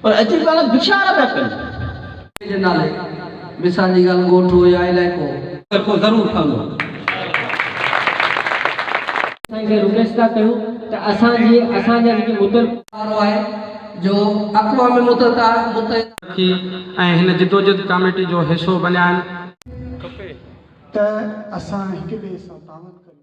پر اڄ به پاڻ بڇڙاڻا پيا ڪن. جي نالي مثال جي ڳالهه ڳوٺ هو يا علائقو. ڪرپو ضرور ٺهندو. اسان کي رڪويسٽ ٿا ڪيون ته اسان جي اسان جا جيڪي متل. وارو آهي جو اقوام متحده. رکي ۽ هن جدوجهد ڪاميٽي جو حصو بنيا آهن. کپي ته اسان هڪ ٻئي سان تعاون ڪريون.